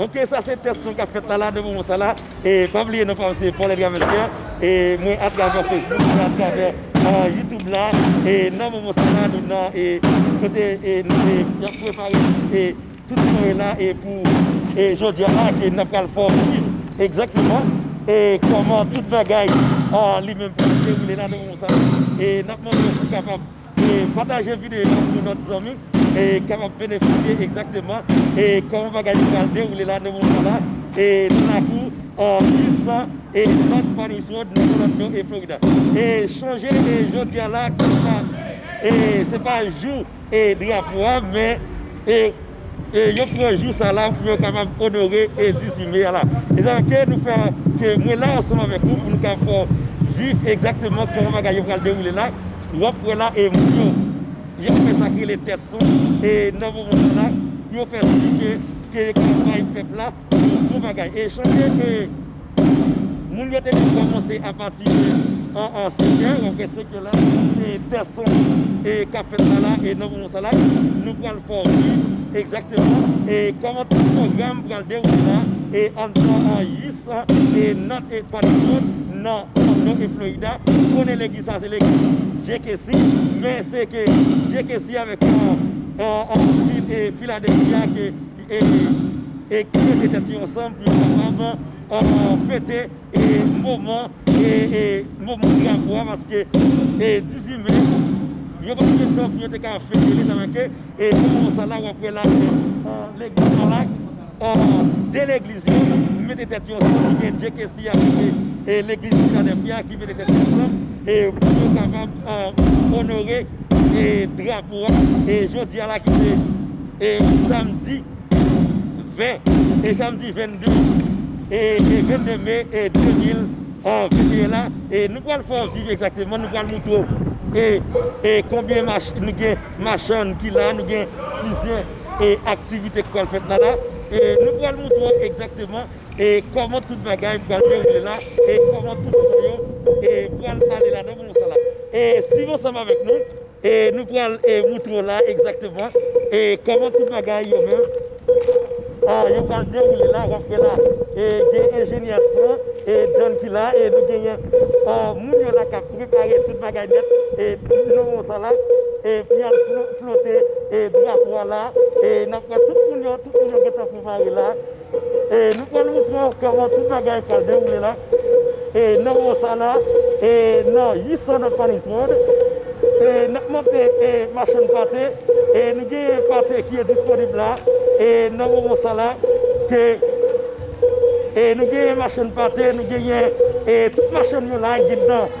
Ok sa se test mwen kap fèt la la nan moman sa la e pa bliye non pam se Paul Edgar Mercier e mwen atravè Facebook mwen atravè YouTube la e nan moman sa la nou nan e kote e nou se yap prepare e tout son e la e pou e jodia la ke nan pral fò viv egzakteman e koman tout bagay li menm pou se ou le la nan moman sa la e nap mande pou kapab E pataje videyo an pou lòt zanmi e kapab benefisye egzakteman e kòman bagay yo pral dewoule la nan moman la e nan lakou an Houston e North Pines Road nan Orlando e Florida. E chonje e jodi a la se pa e se pa jou e drapo a men e E yo pran jou sa la pou yo kapab onore e dizime Allah. E sa ke nou fè ke mwen la ansanm avèk ou pou nou ka fè w viv egzakteman kòman bagay yo pral dewoule la, w ap wè la e moun yo y ap fè sa k rele tès san e nan moman sa la pou yo fè tout ke yo ka bay pèp la. Bon bagay e chante e moun yo te gen kòmanse a pati de an an seke wap wè seke la e tè son e kap fèt la la e nan moman sa la nou pral fè w viv egzakteman e kòman tout pwogram pral dewoule la e anndan an usa e nat e pa nan mond nan Orlando e Florida konnen legliz sa se legliz JKC men seke JKC avèk an an vil e Philadelphia ke. e ki mete tèt yo ansanm pou yo kapab fete moman drapo a paske 18 me yo pa gen tan pou yo te ka fete li sa fè ke e nan moman sa la wap wè la legliz la la de legliz yo mete tèt yo ansanm ki gen JKC a ki se legliz Filadelfi a ki mete tèt yo ansanm e pou yo kapab onore drapo a e jodi a la ki se e samdi 20 e samdi 22 e 22 me e 2021 la e nou pral fè yon viv egzakteman nou pral moutre w e e konbyen mach nou gen machann ki la nou gen plizyè e aktivite ki pral fèt la la e nou pral moutre w egzakteman e kòman tout bagay pral dewoule la e kòman tout sa yo e pral ale la dan pou moussa la e swiv ansanm avèk nou. E nou pral moutre w la egzakteman e kòman tout bagay yo menm a yo pral dewoule la wap wè la e gen enjenyè son e John ki la e nou genyen a moun yo la kap prepare tout bagay nèt e pou nou wè sa la e pou yal flote e drapo a la e nap wè tout moun yo tout moun yo gentan prepare la. E nou pral montre w kòman tout bagay pral dewoule la e nan mò sa la e nan 800 nan Fanny's World e n ap monte e machann pate e nou genyen pate ki disponib la e nan moman sa la ke e nou genyen machann pate nou genyen e tout machann yo la gen dan.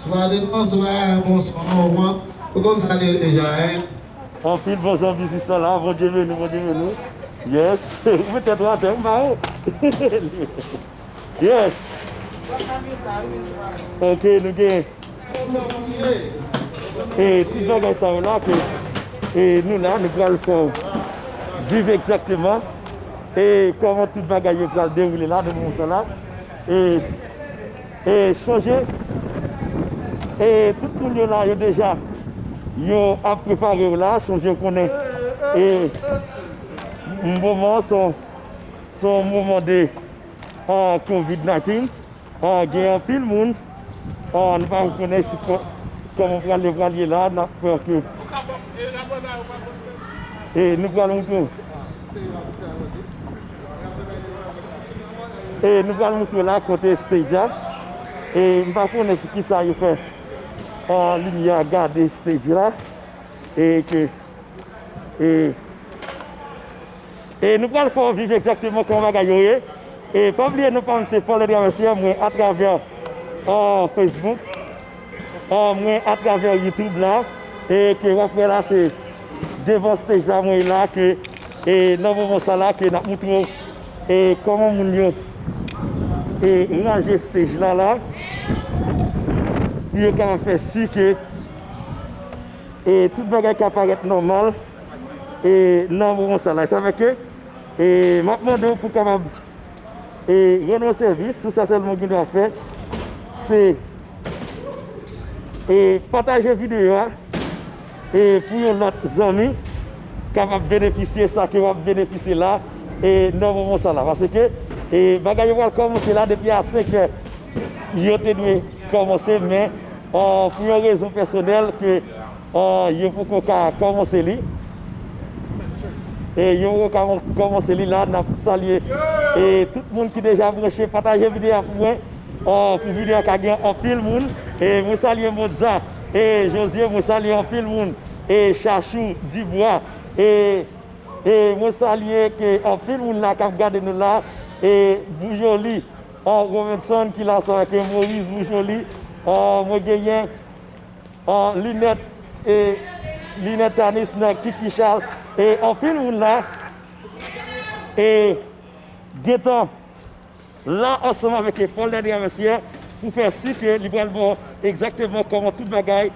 Swade bonswa bonswa mòmò ou konn sa li ye deja hein. Anpil bonswa bizisman la bondye beni bondye beni yes ou met tèt ou atè ou mare yes ok nou gen e tout bagay sa yo la ke e nou la nou pral fèw viv egzakteman e kòman tout bagay yo pral dewoule la nan moman sa la e. E sonje e tout moun yo la yo deja yo ap preparew la sonje ou konnen e moman son son moman de covid 19 gen anpil moun nou pa konnen si koman pral ye pral ye la nap fè ke e nou pral moutrew. E nou pral moutre la kote stage a. E m pa konnen sou kisa yo fè limyè a gade stage la. E ke e E nou pral fè w viv egzakteman kòman bagay yo ye. E pa bliye nou pa m se Fòlè Travèsè mwen atravè Facebook. mwen atravè YouTube la e ke wap wè la se devan stage la mwen la ke e nan moman sa la ke nap moutre w e koman moun yo e ranje stage la la pou yo ka fè si ke e tout bagay ka parèt nòmal e nan moman sa la e sa fè ke e map mande w pou kapab E rann ou sèvis, se sa sèlman ou gen dwa fè. Se E pataje videyo a E pou yon lòt zanmi kapab benefisye sa ke wap benefisye la E nan moman sa la Pase ke E bagay yo pral kòmanse la depi a 5 è Yo te dwe kòmanse men Pou yon rezon pèsonèl ke Yo poko ka komanse li e yo ka komanse li la nap salye e tout moun ki deja branche pataje video a pou mwen pou video a ka gen anpil moun e mwen salye Motza e Josie mwen salye anpil moun e Chachou Dubois e mwen salye ke anpil moun la kap gade nou la e Boujoli Robinson ki la sa ke Moris Boujoli mwen genyen. Linèt e linèt tanis nan kiki chal e anpil moun la e gentan la ansanm avèk Paul Daddy Lamercier pou fè si ke li pral ba w egzakteman kòman tout bagay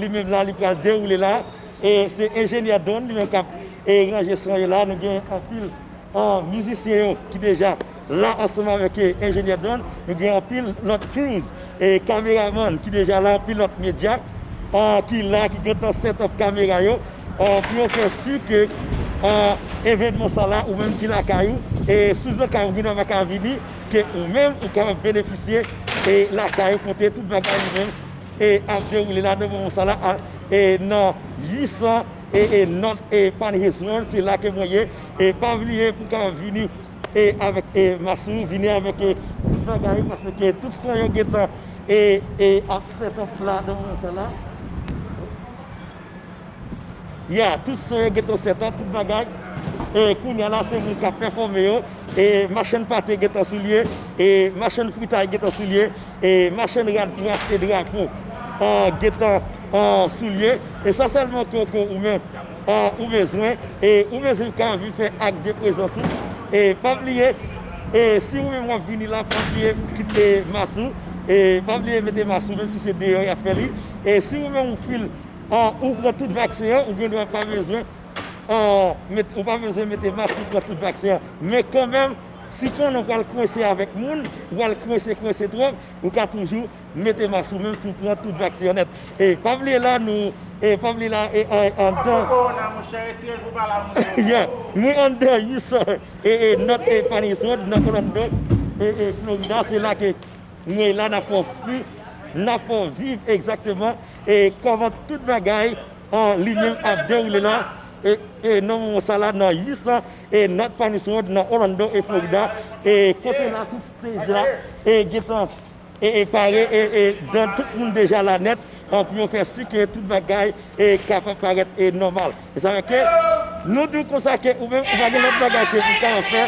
li menm la li pral dewoule la e se enjenyè Don li menm k ap ranje son yo la nou gen anpil mizisyen yo ki deja La ansanm avèk enjenyè dwàn, nou gen anpil lòt crews, kameraman ki deja la, pilòt medya ki la, ki gentan set up kamera yo pou yo fè si ke evènman sa la ou menm ki lakay ou, sou zantray ou gentan pa ka vini, ke ou menm ou kapab benefisye lakay ou kote tout bagay yo menm ap dewoule la nan moman sa la nan 800 North Palhais Road, se la ke mwen ye, pa bliye pou kapab vini. e avèk e masini vini avèk e tout bagay paske tout sa yo gentan e e ap fèt an fla dan nan tan la ya tout sa yo gentan sèt an tout bagay e kounya la se moun kap pèfòme yo e machann pate gentan sou lye e machann fritay gentan sou lye e machann rad pou achte drapo an gentan an sou lye e sa sèlman koko ou menm. ou bezwen e ou bezwen ka vin fè ak de prezans ou e pa bliye e si ou menm wap vini la pa bliye kite mas ou e pa bliye mete mas ou menm si se deyò yap fè li e si ou menm ou fil ou pran tout vaksen an ou gen dwa pa bezwen ou pa bezwen mete mas ou pran tout vaksen an men kanmenm si konnen ou pral kwense avèk moun ou pral kwense kwense twòp ou ka toujou M mete ma sou menw si w pran tout vaksyonèt e pa vle la nou e pa vle la e andan yeah mwen andan us e not e panis road nan Orlando e Florida se la ke mwen la nan fò fi nan fò viv egzakteman e kòman tout bagay an linyon ap dewoule la e nan moman sa la nan us e not panis road nan Orlando e Florida e kote la tout stage la e gentan. e pare e dan tout moun deja la nèt pou yo fè si ke tout bagay kapab parèt nòmal e sa fè ke nou di w konsa ke ou menm ou pa gen lòt bagay ke ou ka fè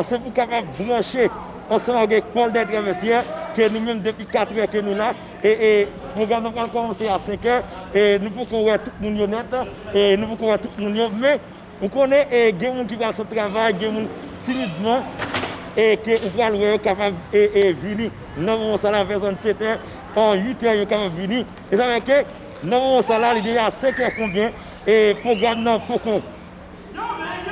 se pou kapab branche ansanm avèk Paul des Traversiers ke nou menm depi katrè ke nou la e pwogram nan pral kòmanse a senkè e nou poko wè tout moun yo nèt e nou poko wè tout moun yo men Ou konnen e gen moun ki pral sot travay gen moun timidman e ke ou pral wè yo kapab e e vini nan moman sa la vè zòn setè an uitè yo kapab vini e sa fè ke nan moman sa la li deja senkè konbyen e pwogram nan poko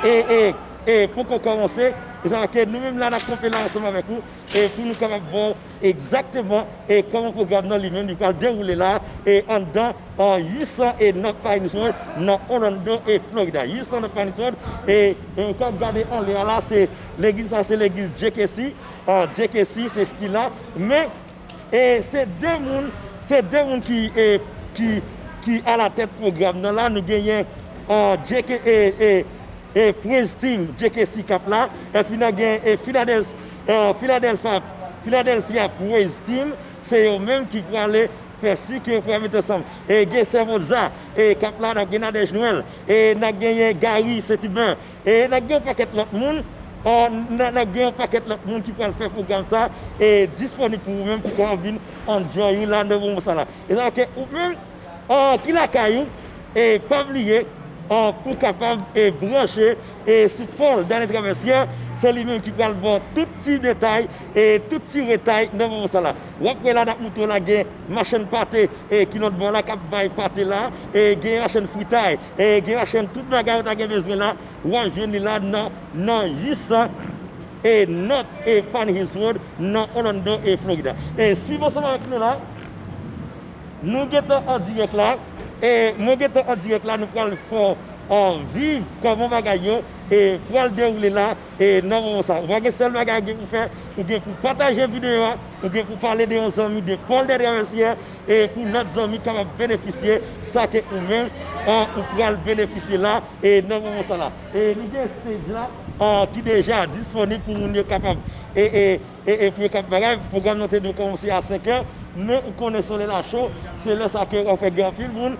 e e e poko kòmanse e sa fè ke nou menm la nap kanpe la ansanm avèk ou e pou nou kapab baw. Egzakteman, e kòman pwogram nan li menm li pral dewoule la e anndan 801 North Pines Road nan Orlando e Florida. 801 North Pines Road e ke wap gade anlè a la se legliz sa se legliz JKC, JKC se ki la men e se 2 moun se 2 moun ki e ki ki alatèt pwogram nan la nou genyen JKC e e. e Prince Team Jekesi kap la epi nan gen e Finadels Filadelfa Philadelphia Praise Team se yo menm ki prale fè si ke yo pral met ansanm e gen Sèvo Za e kap la nap gen Nadège Noël e nap genyen Gary Setibin e nap gen yon pakèt lòt moun a nap gen yon pakèt lòt moun ki pral fè pwogram sa e disponib pou ou menm ki ka vin enjoy ou la nan moman sa la e sa fè ke ou menm. ki lakay ou e pa bliye pou kapab branche sou fol Dany Traversier se li menm ki pral baw tout ti detay e tout ti retay nan moman sa la wap wè la nap moutre w la gen machann pate ki lot bò la kap bay pate la gen machann fritay gen machann tout bagay ou ta gen bezwen la wap jwenn li la nan 800 not e Pine Hills Road nan Orlando Florida e swiv ansanm avèk nou la. Nou gentan an dirèk la e mwen gentan an dirèk la nou pral fè viv kòman bagay yo pral dewoule la e nan moman sa ou pa gen sèl bagay ou gen pou fè ou gen pou pataje videyo a ou gen pou pale de yon zanmi de Paul de Traversier e pou lòt zanmi kapab benefisye sa ke ou menm ou pral benefisye la e nan moman sa la e nou gen stage la ki deja disponib pou moun yo kapab E espre kap bay live, pwogram nan te dwe komanse a 5 è, men ou konnen solèy la cho, se lè sa ke ou fè gen anpil moun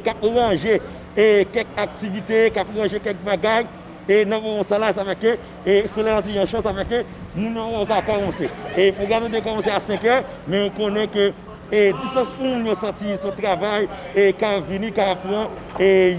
kap ranje kèk aktivite, kap ranje kèk bagay, e nan moman sa la, sa fè ke solèy lan ti jan cho, sa fè ke moun yo pa ka komanse. E pwogram nan te dwe komanse a 5 è, men ou konnen ke distans pou moun yo soti sou travay, ka vini, ka pran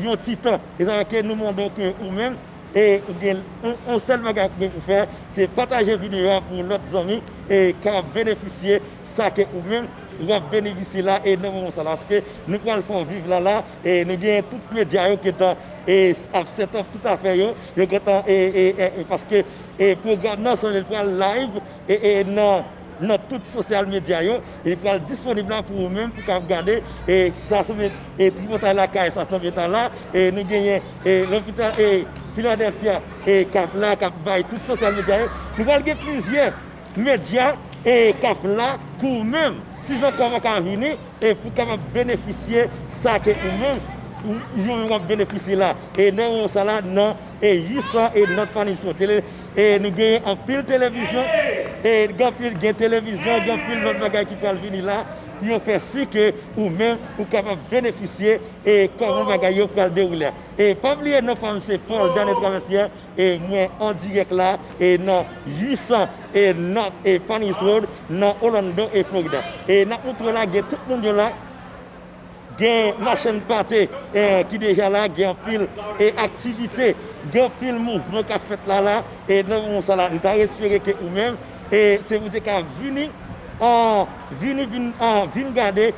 yon ti tan. E sa fè ke nou mande w ke ou menm, e ou gen yon sèl bagay pou ou fè se pataje video a pou yon lòt zanmi e ka benefisye sa ke ou menm wap benefisye la e nan moman sa la ske nou pral fè yon viv la la e nou gen tout medya yo gentan e ap set up tout afè yo yo gentan e paske e program nan se li pral live e nan. nan tout sosyal medya yo, li pral disponib la pou ou menm pou kab gade e sa sou men e tripotay lakay sa sou lopital la e nou genyen e lopital e filadelfia e kap la kap bay tout sosyal medya yo nou pral gen plizyè medya e kap la pou ou menm si zanmi ou paka vini e pou kapab benefisye sa ke ou menm ou menm wap benefisye la e nan ou sa la nan e 800 e nan fanmi sou tele. E nou genyen anpil televizyon e gen anpil gen televizyon gen anpil lòt bagay ki pral vini la pou yo fè si ke ou menm ou kapab benefisye e kòman bagay yo pral dewoule a. E pa bliye non pa m se Paul Daniel Traversier e mwen an dirèk la e nan 800 e North e Panis Road nan Orlando e Florida. E n ap montre w la gen tout moun yo la. Gen machann pate ki deja la, gen anpil aktivite, gen anpil mouvman k ap fèt la la e nan moman sa la m ta espere ke ou menm se ou te ka vini vini vin vin gade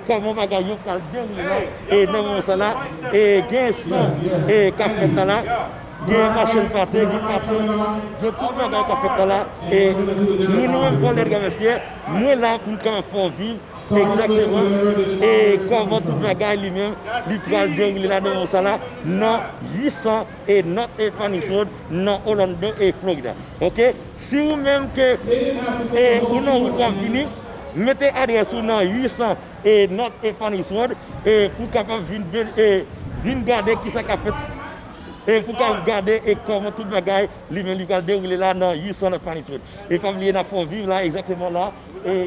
kòman bagay yo pral dewoule la e nan moman sa la e gen san k ap fèt la la gen machann pate, gen pati gen tout bagay k ap fèt la la e mwen menm Volnè Travèsyè mwen la pou m ka fè w viv Exactement e koman tout bagay li menm li pral dewoule la nan mons sa la nan 800 e not e Spanish Road nan Orlando e Florida ok si ou menm ke e ou nan wout wap vini mete adress ou nan 800 e not e Spanish Road e pou kapab vin ben e vin gade kisa kap fèt e pou kap gade e koman tout bagay li menm li pral dewoule la nan 800 not e Spanish Road e pa bliye nap fè w viv la exactement la e.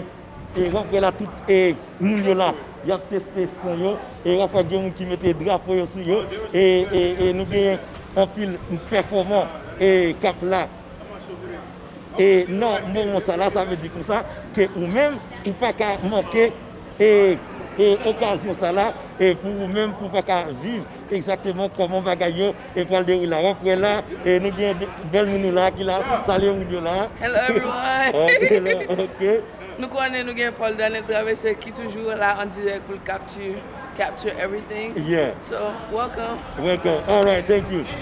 E rantre la tout e moun yo la yap teste fon yo e rantre gen moun ki mete drapo yo sou yo e e nou genyen anpil pèfòman e kap la e nan moman sa la sa vle di konsa ke ou menm ou paka manke e e okazyon sa la e pou ou menm pou paka viv. Exactement koman bagay yo pral deroule wap wè la nou gen bèl moun nou la ki la salye moun yo la. Hello everyone ok nou konnen nou gen Paul Daniel Traverse ki toujou la an dirèk poul capture everything yeah so welcome. Welcome alright thank you.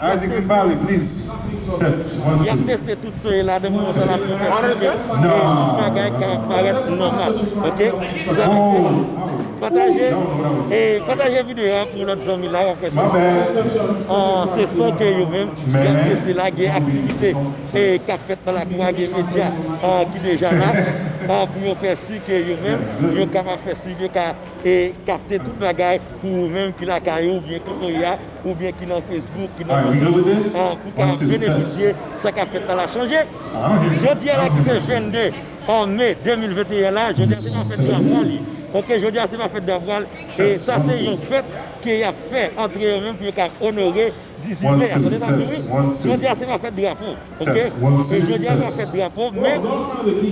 Isaac vin pale please test one Yap two. teste tout son yo ladan pou konsa lap pi fasil fè e tout bagay ka parèt nòmal ok zam ak tèt yo pataje e pataje video a pou lòt zanmi la wap wè se son an se son ke yo menm yap teste la gen aktivite e kap fèt nan lakou a gen medya an ki deja la an pou yo fè si ke yo menm yo kapab fè si yo ka e kapte tout bagay pou ou menm ki lakay ou oubyen kote ou ye a. oubyen ki nan Facebook, ki nan Youtube an pou ta benefisye sa k ap fèt nan la chanje. Jodi a la ki se 22 me 2021 la, jodi a se pa fèt Davoua li. Ok jodi a se pa fèt Davoua l e sa se yon fèt ke y ap fè antre yo menm pou yo ka onore 18 me a. Tande sa m di wi, jodi a se pa fèt drapo. ok e jodia nou ap fèt drapo men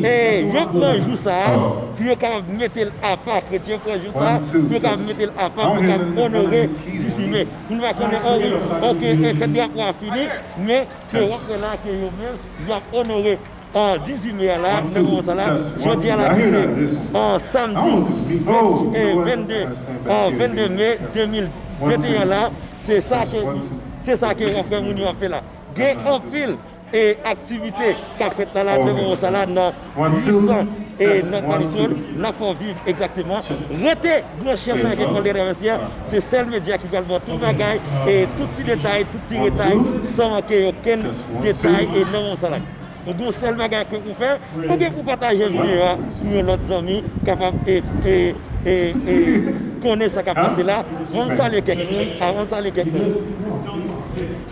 e yo pran jou sa pou yo kapab metel apa kretyen pran jou sa pou yo kapab metel apa pou yo kapab onore ti chimè pou nou pa konnen o wi ok e fèt drapo a fini men ke wap wè la ke yo menm yap onore a 18 me a la nan moman sa la jodia la ki se a samdi 20 e 22 a 22 me 2021 la se sa ke se sa ke wap wè moun yo ap fè la. Gen anpil aktivite k ap fèt nan lame Moron Salah nan 800 e nan Kanison n ap fè w viv egzakteman. Rete branche ansanm ak Ecole des Traversiers, se sèl medya ki pral ba w tout bagay, tout ti detay, tout ti retay san manke okenn detay nan Moron Salah. Ou gen yon sèl bagay ke pou w fè, ou gen pou w pataje videyo a pou yon lòt zanmi kapab konnen sa k ap pase la. An n salye kèk moun.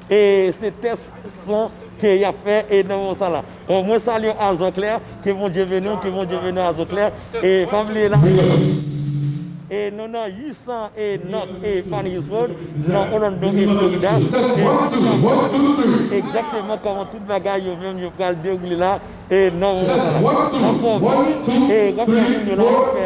E se tès son ke yap fè e nan moman sa la. Bon mwen salye Azor Claire, ke Bondye beni w, ke Bondye beni w Azor Claire. E pa bliye la e nou nan 800 e North e Manheus Road nan Orlando e Florida e nou pral montre nou egzakteman kòman tout bagay yo menm yo pral dewoule la e nan moman sa la. Anfòm e konbyen moun yo la pou fè.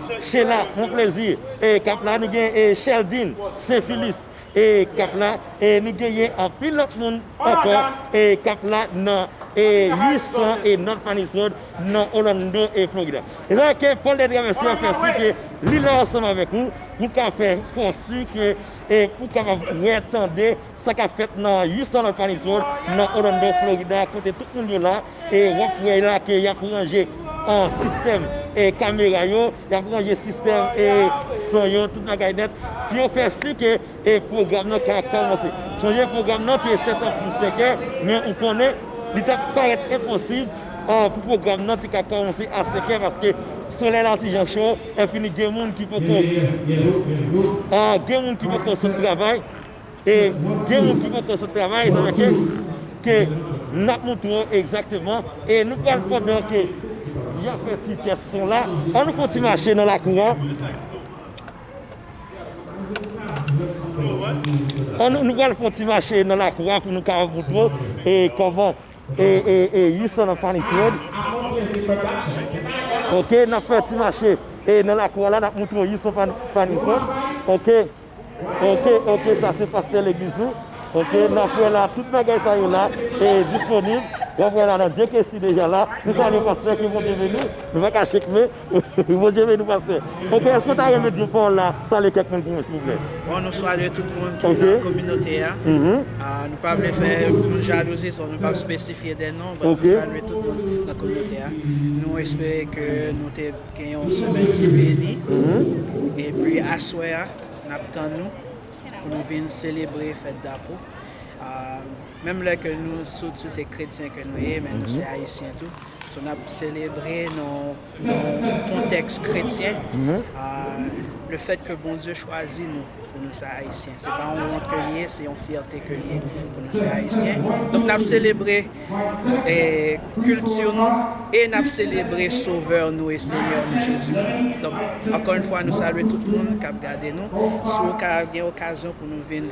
Chen la fon plezi e kap la nou gen e Sheldin senfilis e kap la e nou genyen anpil lòt moun ankò e kap la nan e 800 e North Panis Road nan Orlando e Florida. Mezanmi ke Paul de Traverse a fè si ke li la ansanm avèk ou pou ka fè fon si ke e pou kapab wè tande sa kap fèt nan 800 North Panis Road nan Orlando Florida kote tout moun yo la. wòk prèy la ke yap ranje sistèm kamera yo, yap ranje sistèm son yo, tout bagay nèt pou yo fè si ke pwogram nan ka kòmanse. Sonje pwogram nan te sètap pou senkè, men ou konnen li ta parèt enposib pou pwogram nan te ka kòmanse a senkè paske solèy la ti jan cho, epi gen moun ki poko sot travay. E gen moun ki poko sot travay, sa vle di ke n ap montre yo egzakteman. E nou pral pandan ke y ap fè ti tès son la, an nou fè yon ti mache nan lakou an. An nou pral fè yon ti mache nan lakou an pou nou ka montre yo e kòman e you son of funny trade. Ok, n ap fè yon ti mache nan lakou an la, n ap montre yo you son of funny trade. Ok. Ok ok sa se pastè legliz nou ok nap wè la tout bagay sa yo la e disponib wap wè la nan Dieu que si deja la nou salye pastè ke Bondye beni nou pa ka chek men ke Bondye beni w pastè ok èske ou ta renmen di pawòl la salye kèk moun pou mwen silvouplè. Bon nou salye tout moun ki nan kominote a nou pa vle fè moun jalouzi so nou pap spesifye de non but nou salye tout moun nan kominote a nou espere ke nou te Gen yon semèn ki beni epi aswè a n ap tann nou pou nou vin selebre fèt Dapou. Menm lè ke nou sot si se kretyen ke nou ye men nou se ayisyen tou so n ap selebre nan yon kontèks kretyen le fèt ke Bondye chwazi nou pou nou se ayisyen se pa yon wont ke li ye se yon fyète ke li ye pou nou se ayisyen donk n ap selebre kilti nou e n ap selebre Sovè nou e Senyè nou Jezikri. Donk, ankò yon fwa nou salye tout moun k ap gade nou. Si w ka gen okazyon pou nou vin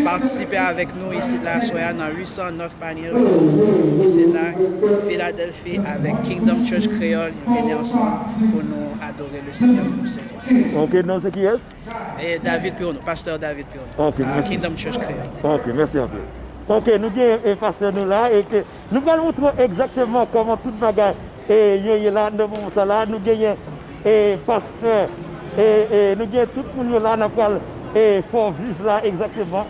patisipe avèk nou isit la aswè a nan 800 North Pioneer Road isit la, Filadèlfi, avèk Kingdom Church Kreyòl, vini ansanm pou nou adore Lesenyè pou nou selebre L. Ok, non se kiyès? David Pironneau, Pasteur David Pironneau, a Kingdom Church Kreyòl. Ok, mèsi anpil. Ok, nou gen e pastè nou la e ke nou pral moutre w egzakteman kòman tout bagay e yo ye la nan moman sa la. Nou genyen e pastè e e nou gen tout moun yo la nan pral e fè w viv la egzakteman.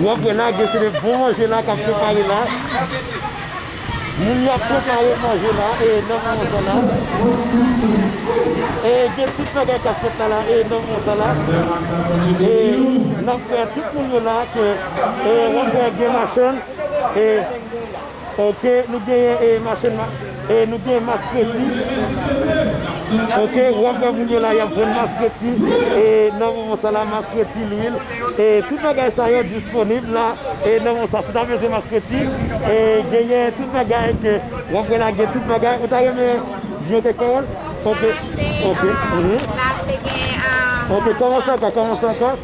Nèg yo lage se de bon manje la kap prepare la moun yo ap prepare manje la e nan moman sa la e gen tout bagay kap fèt la la e nan moman sa la e nap wè tout moun yo la ke e wap wè gen machann e. Ok nou genyen e mache n e nou genyen mas kreti ok wap wè moun yo la yap vann mas kreti e nan moman sa la mas kreti lwil e tout bagay sa yo disponib la e nan moman sa si w ta bezwen mas kreti e genyen tout bagay ke wap wè la gen tout bagay ou ta renmen di yon kèk pawòl ok ok ok kòmanse ankò kòmanse ankò.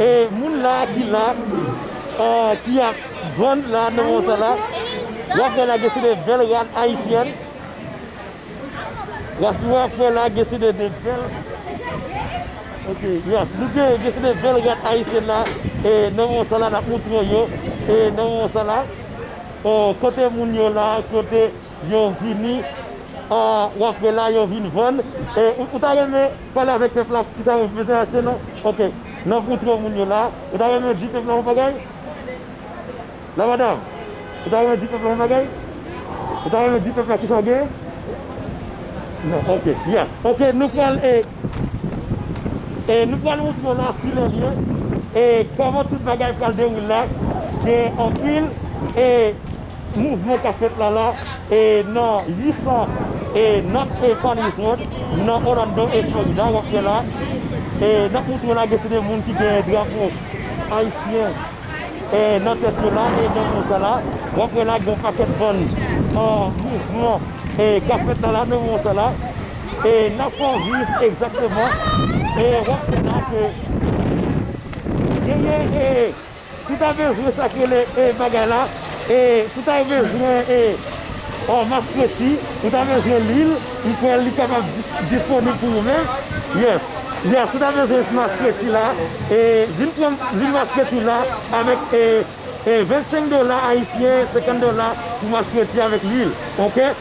E moun la ki la ki ap vann la nan moman sa la wap wè la gen se de bèl rad ayisyèn wap wè la gen se de bèl ok yes nou gen gen se de bèl rad ayisyèn la e nan moman sa la nap montre yo e nan moman sa la kote moun yo la kote. Yo vini rantre la yo vin vann e ou ta renmen pale avèk pèp la kisa yo bezwen achte non ok nan pou tro moun yo la ou ta renmen di pèp la yon bagay la madam ou ta renmen di pèp la yon bagay ou ta renmen di pèp la kisa w gen non ok ya ok nou pral e e nou pral moutre w la si lè l ye e kòman tout bagay pral dewoule la gen anpil e. Mouvman kap fèt la la e nan 809 e Farley's Road nan Orlando e Florida wap wè la e nap moutre la gen se de moun ki gen drapo ayisyen e nan tèt yo la e nan moun sa la wap wè la gon pakèt bann an mouvman e kap fèt la la nan moun sa la e nan Fòviv egzakteman e wap wè la ke genyen e. Tout a bezwen sa k rele e bagay la e tout a bezwen e or map presi tout a bezwen lwil m kwè li kapab disponib pou ou menm yes yes tout a bezwen s mas presi la e vin pran lwil mas presi la avèk e 25 dola ayisyen 50 dola pou mas presi avèk lwil ok.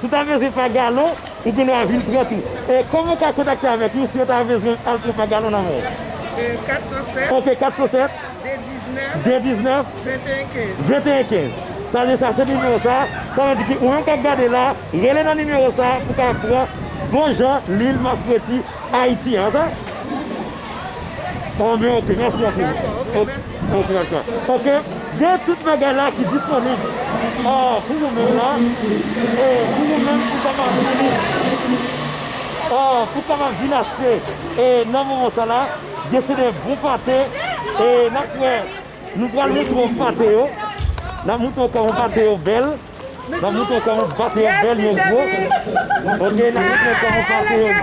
Si w ta mezire pa galon, ou gen dwa vin pran tou. E kòman ou ka kontakte avèk nou si yo ta bezwen al pran pa galon nan men w? 407. Ok, 407. 219. 219. 2115. 2115. Sa vle di sa se nimewo sa. Sa vle di ki ou menm k ap gade la, rele nan nimewo sa pou w ka pran bon jan lwil maskreti. Ayiti an sa Anmweyy ok mèsi anpil ok ok gen tout bagay la ki disponib pou ou menm la pou ou menm ki ta map vini pou ta map vini achte nan moman sa la gen se de bon pate nap wè nou pral moutre ou pate yo nap moutre ou kòman pate yo bèl. Nan mouton kò yon bat yon bèl yon gwo ok nan mouton kò yon bat yon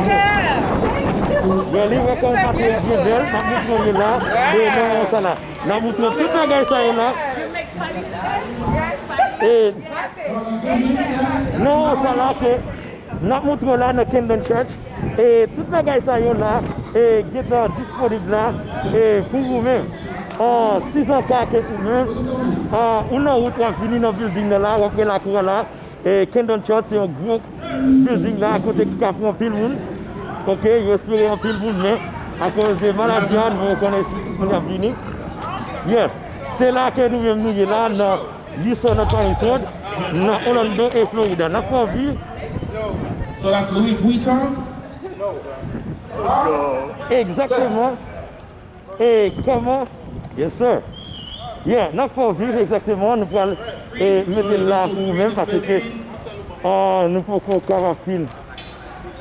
gwo yon li wè kò yon bat yon byen bèl nan mouton yon la e nan yon sa la nan mouton tout bagay sa yon la e nan yon sa la ke. Nap moutrew la nan Camden Church e tout bagay sa yo la e gentan disponib la e pou ou menm. An sizanka ke ou menm a ou nan wout wap vini nan building nan la wap wè lakou a la e Camden Church se yon gwo building la kote ki ka pran anpil moun ok yo espere anpil moun men akoz de maladi a nou konnen si moun ap vini yes se la ke nou menm nou ye la nan Li sò nan Palm Front, nan Orlando e Florida. N ap fè w vi. Egzakteman. E kòman. Yes sir. Yeah, n ap fè w viv egzakteman. Nou pral mete l la pou ou menm, pase ke nou poko ka wè film.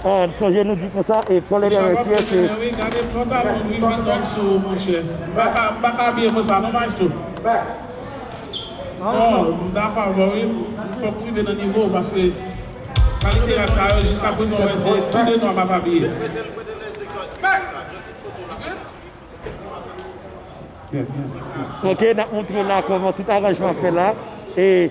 Ahh m sonje nou di konsa e tolerance ye se. Ok nap montre la koman tout aranjman fè la e.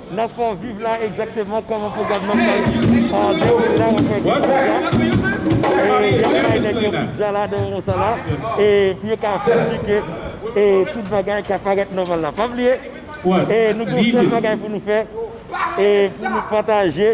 Nan fon viv la egzakteman kòman pwogram nan pral dewoule la wap wè gen pizza e yap bay nèg yo pizza la nan moman sa la e pou yo ka asire ke tout bagay ka parèt nòmal la pa bliye nou gen yon sèl bagay pou nou fè e pou nou pataje.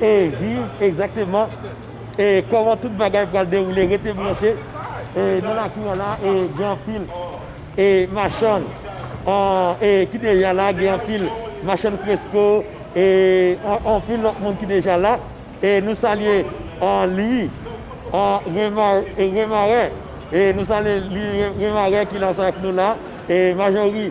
e viv egzakteman e kòman tout bagay pral dewoule rete branche e nan lakou an la e gen anpil e machann an e ki deja la gen anpil machann fresko e anpil lòt moun ki deja la e nou salye an lwi an remarè e nou salye lwi remarè ki la sa ak nou la e majori.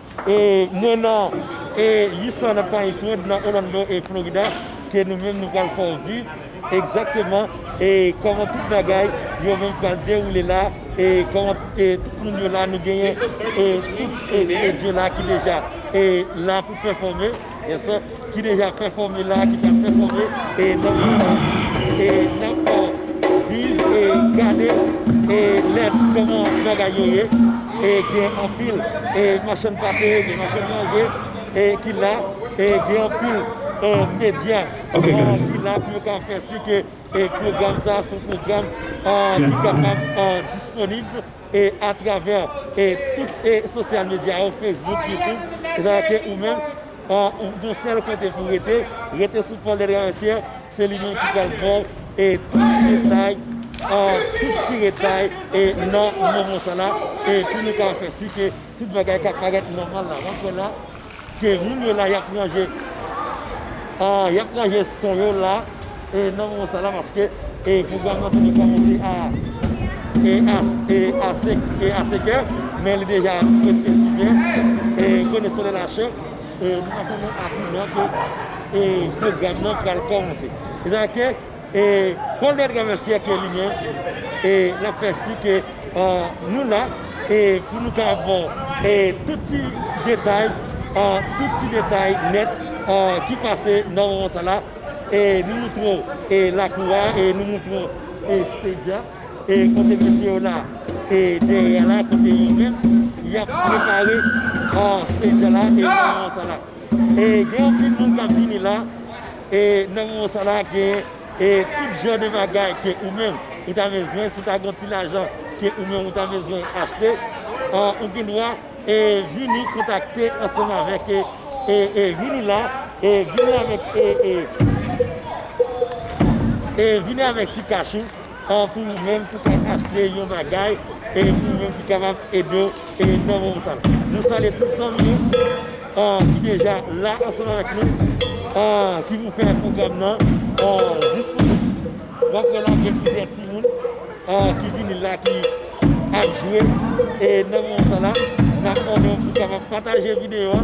Mwen nan 800 nan Pines Road nan Orlando Florida ke nou menm nou pral fè w viv egzakteman kòman tout bagay yo menm pral dewoule la e kòman tout moun yo la nou genyen tout studio la ki deja la pou pèfòme. Vincent ki deja pèfòme la, ki pral pèfòme e nan moman sa a. E n ap viv e gade e lèd kòman bagay yo ye. E gen anpil e machann pate, gen machann manje e ki la. E gen anpil e medya ki la pou yo ka fè si ke e pwogram sa a s on pwogram ki kapab disponib. e atravè e tout e sosyal medya yo Facebook, YouTube e sa yo ke ou menm ou gon sèl kote pou rete, rete sou Paul Delgard Mercier se li menm ki pral baw e tout ti detay a tout ti detay e nan moman sa la e pou nou ka fè si ke tout bagay ka parèt nòmal la wap wè la. Ke moun yo la yap ranje ahh yap ranje son yo la e nan moman sa la paske e pwogram nan toujou kòmanse a e as e ase e a sekè men li deja preske sizè e konnen solèy la cho e nou pa konnen a ki lè ke e pwogram nan pral kòmanse. Mezanmi ke E Paul Bertrand nan syèk ke li gen e lap fè si ke nou la e pou nou ka ap baw e tout ti detay a tout ti detay nèt a ki pase nan moman sa la e nou moutre w e lakou a e nou moutre w e stage a e kote mesye yo la e dèyè a la kote yo menm yap prepare a stage a la e nan moman sa la. Gen anpil moun kap vini la e nan moman sa la gen tout jan de bagay ke ou menm ou ta bezwen, si ta gen yon ti lajan ke ou menm ou ta bezwen achte ou gen dwa vini kontakte ansanm avèk vini la e vini avèk e vini avèk ti kach ou. Tankou ou menm ki ka achte yon bagay e epi ou menm ki kapab ede nan moman sa la. Nou salye tout zanmi yo ki deja la ansanm avèk nou ki pou fè pwogram nan disponib. Wap wè la gen plizyè timoun ki vini la ki ap jwe e nan moman sa la nap mande w pou kapab pataje videyo a.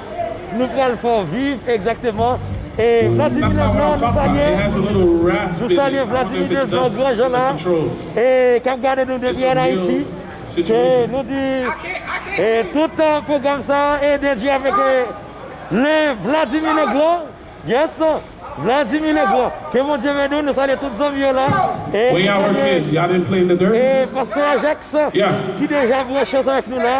Nou pral fè w viv egzakteman e Vladimir Leblanc nou salye nou salye Vladimir Leblanc gran jan la e kap gade nou depi an Ayiti e nou di e tout pwogram sa e dedye avèk le Vladimir Leblanc yes Vladimir Leblanc ke Bondye beni w nou salye tout zanmi yo la e nou salye e pastè Ajax ki deja branche avèk nou la.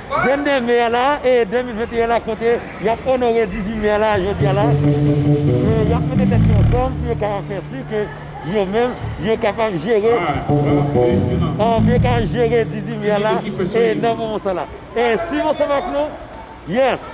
22 me a la e 2021 la kote yap onore 18 me a la a jodi a la e yap mete tèt yo ansanm pou yo ka fè si ke yo menm yo kapab jere a pou yo ka jere 18 me a la e nan moman sa la e si m ansanm ak nou yes.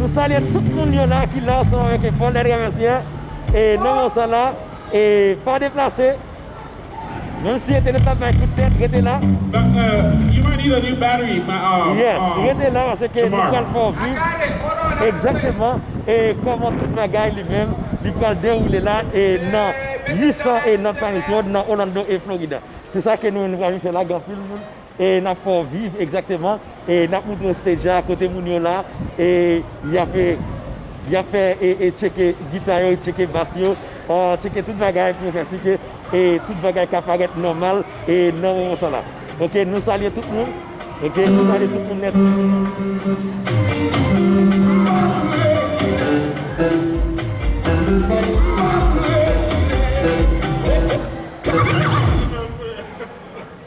Nou salye tout moun yo la ki la ansanm avèk Lekòl dè Dramatiyen e nan moman sa la e pa deplase menm si entènèt la ap bay kout tèt rete la yes rete la paske nou pral fè w viv egzakteman e kòman tout bagay li menm li pral dewoule la e nan 800 e nan Paris Road nan Orlando e Florida se sa ke nou menm nou pral vin fè la gen anpil moun E nap fè w viv egzakteman e nap moutre w stage la kote moun yo la e yap e yap fè e tcheke gita yo e tcheke bass yo a tcheke tout bagay pou yo fè si ke e tout bagay ka parèt nòmal e nan moman sa la ok nou salye tout moun ok nou salye tout moun nèt.